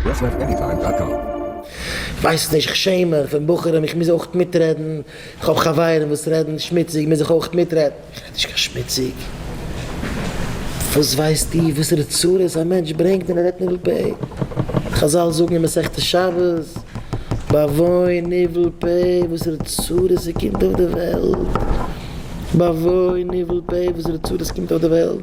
יאסלעפעניטיים דאט קאם. כ'ווייס נישט, כ'שעם מיך פון בחורים, איך מוז אויך מיטרעדן, כ'האב חברים וואס רעדן שמוציג, מוז איך אויך מיטרעדן? איך רעד נישט קיין שמוציג, וואס ווייסטו וואסערע צרות א מענטש ברענגט ווען ער רעדט ניבול פה? חזל זאגן אין מסכת שבת, באבוי ניבול פה, וואסערע צרות ס'קומט אויף די וועלט, באבוי ניבול פה, וואסערע צרות ס'קומט אויף די וועלט.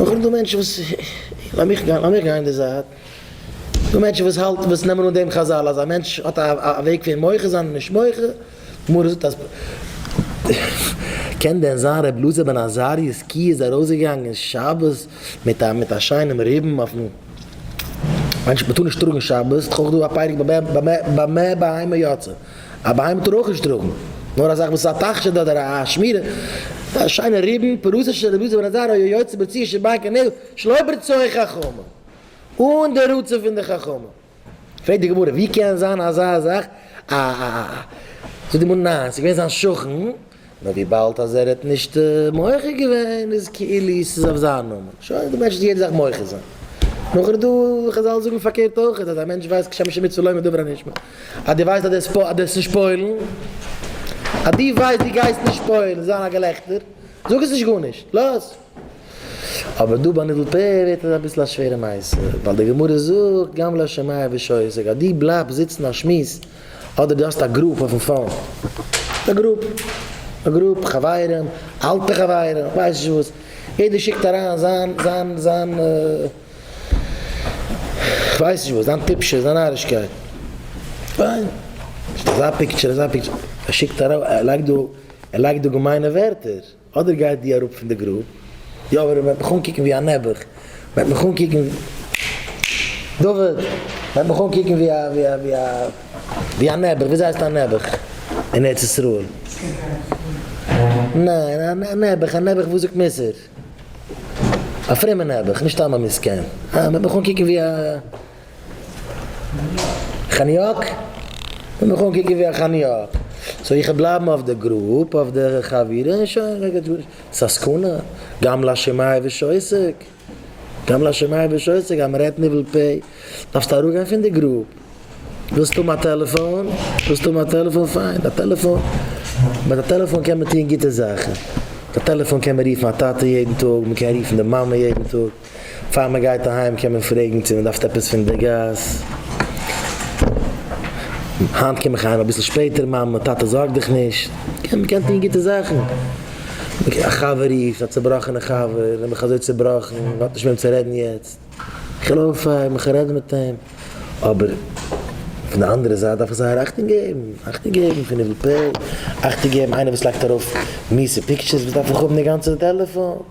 אויך דא מענטשן וואס, לאמיך גיין לאמיך גיין די זייט, דא מענטשן וואס האלט וואס נעמען אן דעם חזל אז א מענטש האט א וועג פון מוחה זיין און נישט מוחה, די גמרא זאגט אז קען דען זיין ר' אלעזר בן עזריה ז ק איז ארויסגעגאנגען שבת מיט א מיט א שיינעם ריבן אויפן מענטש מען טאר נישט טראגן שבת, דאך אויך דא א פרק במ ב במ ב בהמה יצא. א בהמה טאר אויך נישט טראגן נאר אזאך וואס איז א תכשיט אדער א שמירה, א שיינע ריבן, פרוסה של רביז בן עזרא היה יוצא בציר של בנק הנעל שלא ברצועה חכמים, אן די רצון פון די חכמים. פרעגט די גמרא ווי קען זיין אזא זאך א זאגט די גמרא ניין ס'איז געווען זיין שכן נאר וויבאלד אז ער האט נישט מוחה געווען איז כאילו ס'איז אויף זיין נאמען, שוין די מענטש האט יעדע זאך מוחה זיין. נאך איז דא חזל זאגן פארקערט אויכעט אז א מענטש ווייסט כשם שמיט צו לומר דבר הנשמע אז דו ווייסט אז דו דארפסט נישט פועל'ן, אז דו ווייסט דו גייסט נישט פועל'ן זיין א געלעכטער, זאג עס נישט גארנישט, לאז. אבער דא ביי נידל פ ווערט עס אביסל א שווערע מעשה, ווייל די גמרא זאגט גם לא שמעיה ושעור, ס'איז גענוג אז דו בלייבסט זיצן א שמועס, אדער דו האסט א גרופ אויפן פאון, א גרופ, א גרופ חברים, אלטע חברים, איך ווייס נישט וואס, יעדער שיקט אריין זיין, זיין, זיין, איך ווייס נישט וואס, זיין טיפשות, זיין נארישקייט, פיין, אזא פיקטשער, אזא פיקטשער, ער שיקט אריין, ער לייגט דא, ער לייגט דא געמיינע ווערטער. אדער גיי דו אראפ פון די גרוב. יא אבער מען וועט מיך אנקוקן ווי א נעבעך, מען וועט מיך אנקוקן, דוד, מען וועט מיך אנקוקן ווי א ווי א ווי א ווי א נעבעך, וויאזוי הייסט א נעבעך אין ארץ ישראל? ניין, א נעבעך, א נעבעך וואס זאגט מוסר, א פרומע נעבעך, נישט סתם א מסכן, מען וועט מיך אנקוקן ווי א. כניאק? איך מיך אנקוקן ווי א כניאק? סאו איך וועל בלייבן אויף די גרופ, אויף די חבירה און שוין, מער גייט גארנישט, ס'איז א סכנה, גם לשם מאי ושעוסק, גם לשם מאי ושעוסק, אז מ'רעדט ניבול פה, דארפסטו אראפגיין פון די גרופ, ווילסט האבן א טעלעפאן, ווילסט האבן א טעלעפאן, פיין, א טעלעפאן, מיט א טעלעפאן קען מען טון גוטע זאכן, מיט א טעלעפאן קען מען רופן א טאטע יעדן טאג, מ'קען רופן די מאמע יעדן טאג. פאר מען גייט אהיים קען מען פרעגן צו מען דארף עפעס פון די גאס. היינט קום איך אהיים אביסל שפעטער, מאמע, טאטע זארג דיך נישט, מען קען טון גוטע זאכן. א חבר רופט, א צובראכענע חבר, ער איז מיך אזוי צובראכן, מען האט נישט מיט וועם צו רעדן יעצט. איך העל אויף, איך מיך רעדן מיט אים. אבער פון די אנדערע זייט דארף איך זייער אכטונג געבן, אכטונג געבן פון איבער פעלד, אכטונג געבן איינער וואס לייגט ארויף מיעסע פיקטשערס, וואס דארף איך האבן די גאנצע טעלעפאן.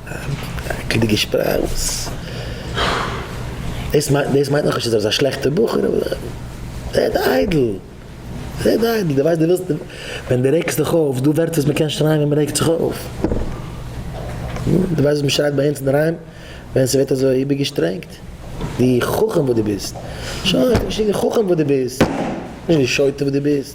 עקלדיגע שפראך וואס דאס מיינט דאס מיינט נאכנישט אז ער איז א שלעכטער בחור רעד איידל רעד איידל די ווייסט די ווילסט ווען די רעגסט דיך אויף דא ווערטער וואס מען קען שרייען ווען מען רעגט זיך אויף די ווייסט וואס מען שרייט ביי אונז אינדערהיים ווען ס'ווערט אזוי איבערגעשטרענגט די חכם וואס די ביסט שוין נישט די חכם וואס די ביסט נישט די שוטה וואס די ביסט.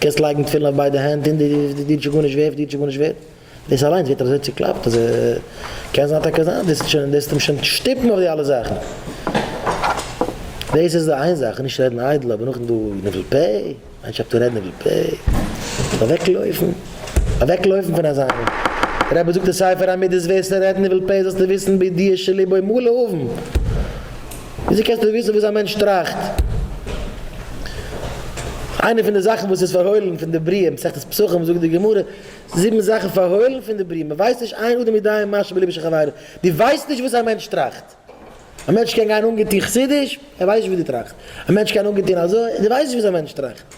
קענסט לייגן תפילין אויף ביידע הענט און דאס דינט שוין גארנישט ווערט, דינט שוין גארנישט ווערט, דאס אליינס ווערט אזוי צוקלאפט אז קען זיין טאקע זיין דאס שוין דאס וועט אים שוין שטופן אויף די אלע זאכן. דאס איז די איין זאך, נישט רעדן איידל, אבער נאכדעם דא ניבול פה, איין שאפט אן רעדן ניבול פה, מ'זאל אוועק לויפן, אוועק לויפן פון אזא איינעם, דער רבי זאגט אין ספר המידות וועסטו רעדן ניבול פה זאלסטו וויסן בידיעה שליבו מלא אבן. וויאזוי קענסטו וויסן וואס א מענטש טראכט? איינע פון די זאכן וואס איז פארהוילן פון די בריאה, מסכת פסחים זאגט די גמרא, זיבן זאכן פארהוילן פון די בריאה, מען ווייסט נישט עיין אדם יודע מה שבליבו של חברו, דו ווייסט נישט וואס א מענטש טראכט, א מענטש קען גיין אנגעטון חסידיש, ער ווייסט נישט וואס דו טראכסט, א מענטש קען אנגעטון אזוי, דו ווייסט נישט וואס א מענטש טראכט.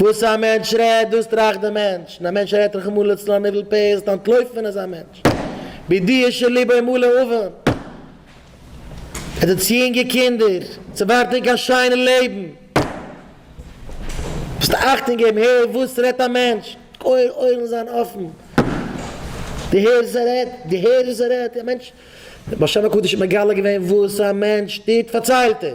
וואס א מענטש רעדט דאס טראכט די מענטש, און א מענטש רעדט רחמנא לצלן אן איבל פה זעט אנטלויפן פון אזא מענטש, בידיעה שליבו מלא אבן. ער האט צו יונגע קינדער, עס ווארט אים קיין שיינע לעבן. זאלסט אכטונג געבן, הער וואס רעדט א מענטש, אויערן זיין אפן, דו הערסט וואס ער רעדט, דו הערסט וואס ער רעדט, א מענטש, דער באר שם הקדוש האט מגלה געווען וואס א מענטש טוט פארציילט ער,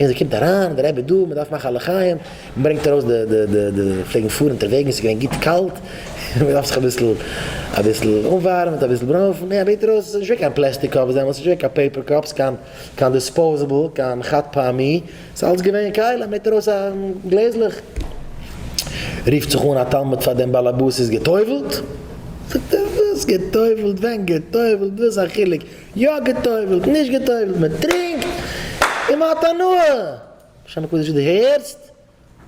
און זי קומט אריין, און דער רבי דא, מען דארף מאכן א לחיים, מען ברענגט ארויס די די די די פלעגן פארן אונטערוועגן, עס איז געווען גוט קאלט, און מען דארף זיך אביסל אביסל אנווארעמען, אביסל ברוינפן, מען בעט ארויס, עס איז נישט געווען קיין פלעסטיק קאפס דעמאלטס, נישט געווען קיין פעיפער קאפס, קיין קיין דיספאוזעבל, קיין חד פעמי, עס איז אלץ געווען קייל, מען בעט ארויס א גלעזלעך, רופט זיך אן א תלמיד פאר דעם באלעבאס, איז גע'טובל'ט? זאגט ער, וואס גע'טובל'ט, ווען גע'טובל'ט, וואס א חילוק, יא גע'טובל'ט, נישט גע'טובל'ט, מען טרינקט און מען האט הנאה! שם הקדוש דו הערסט?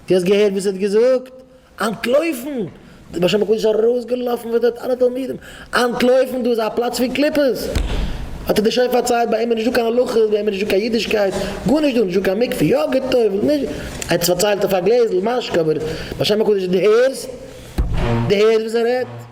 דו האסט געהערט וואס ער האט געזאגט? אנטלויפן! דער בעל שם הקדוש איז ארויסגעלאפן מיט די אלע תלמידים, אנטלויפן! דא איז א פלאץ פון קליפות! האט ער דיר שוין פארציילט ביי אים איז נישטא קיין הלכות, ביי אים איז נישטא קיין אידישקייט, גארנישט דא, נישטא קיין מקווה, יא גע'טובל'ט, נישט גע. ער האט עס פארציילט אויף א גלעזל משקה, אבער בעל שם הקדוש דו הערסט? דו הערסט וואס ער רעדט?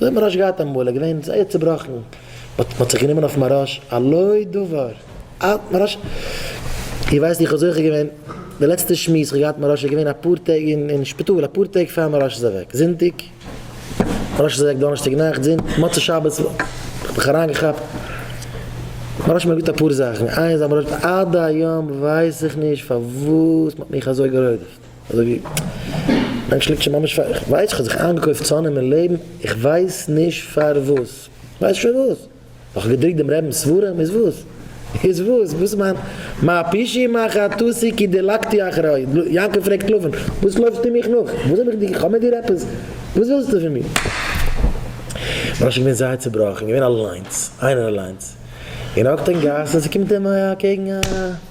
אזוי האט מען רעש געהאט אמאל, ער געווען זייער צובראכן, מען האט זיך גענומען אויף מהראש על לא דבר, אה מהראש, איר ווייסט איך האב זוכה געווען, די לעצטע שמועס איך געהאט מהראש איז געווען אפאר טעג אין שפיטאל, אפאר טעג פאר מהראש איז אוועק, זונטאג, מהראש איז אוועק דאנערשטאג נאכט, זונטאג, מוצאי שבת, איך האב מיך אריינגעכאפט, מהראש האט מיר געזאגט אפאר זאכן, איינס אז מהראש, עד היום ווייס איך נישט פארוואס מען האט מיך אזוי גערודפ'ט. אזוי ווי מענטש ליגט שוין ממש פאר, איך ווייס איך האב זיך איינגעקויפט צו אננעמען לעבן, איך ווייס נישט פארוואס, איך ווייס נישט פארוואס, נאך איך געדרוקט דעם רעבינס ספרים, איז וואס? איז וואס? וואס איז מיין מה פשעי מה חטאתי כי דילגתי אחריו, יעקב פרעגט לבן, וואס לויפסטו מיך נאך? וואס האב איך דיר, איך האב מיט דיר עפעס? וואס ווילסטו פון מיר? משה איז געווען זייער צובראכן, געווען אליינס, איינער אליינס, און ער האקט אין גאס און ס'קומט אים אקעגן א.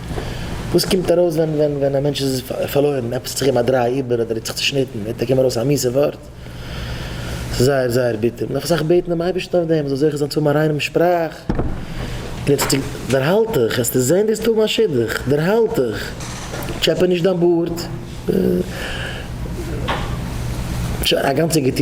וואס קומט ארויס ווען ווען ווען א מענטש איז פארלוירן, עפעס האט זיך אים א דריי איבער אדער ער האט זיך צעשניטן, וועט אויף אים ארויס א מיסע ווארט, ס'איז זייער זייער ביטער, מ'דארף אסאך בעטן דעם אייבערשטן אויף דעם, מ'זאל זוכה זיין צו האבן א ריינעם שפראך, און עטס דערהאלט דיך, העסטו זען דאס טאג מיין שידוך, דערהאלט דיך, טשעפע נישט דיין בארד, שוין א גאנצע געטוען.